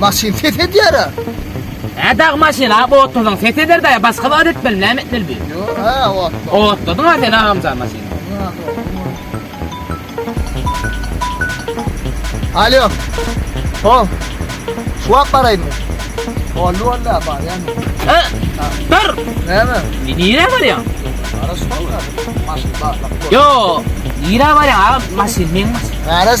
Maşyn ses edýär ha. Hä dag maşyn ha otladyň ses eder daýa başga zat etmeli näme etmeli bir. Yo ha ot. Otladyň ha sen agamjan maşyn. Alo. Hop. Şu wagt baraýmy? Oldu oldu barýan. Ha? Dur. Näme? Nire barýan? Ara şu wagt. Maşyn barlap. Yo. Nire barýan agam maşyn meň maşyn. Garaz.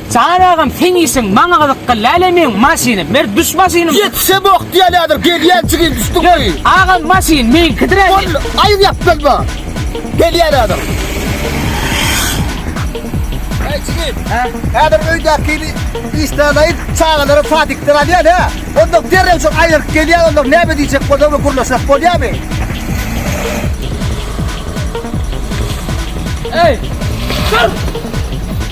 Salam agam seň işiň maňa gyzyk gyl lälä meň maşynym ber düş maşynym. Ýetişe bok diýälädir gelýän çigim düşdüň goý. Agam maşyn meňkidir äni. Boldy aýyr ýap bilme gelýälädir. Eý jigim Hä häzir öýdäkini işläläýin çagalary sadikden alýan hä ondan derrew şol aýryk gelýän ondan näme diýjek bolsaňmy gürleşek bolýamy. Eý dur.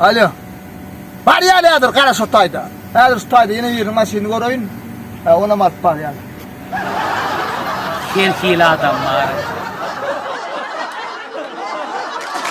Alo. Barýar häzir gara şo taýda. Häzir şu taýda ýene biriniň maşynyny göreýin. Hä, onam alyp barýar. Her hili adam bar.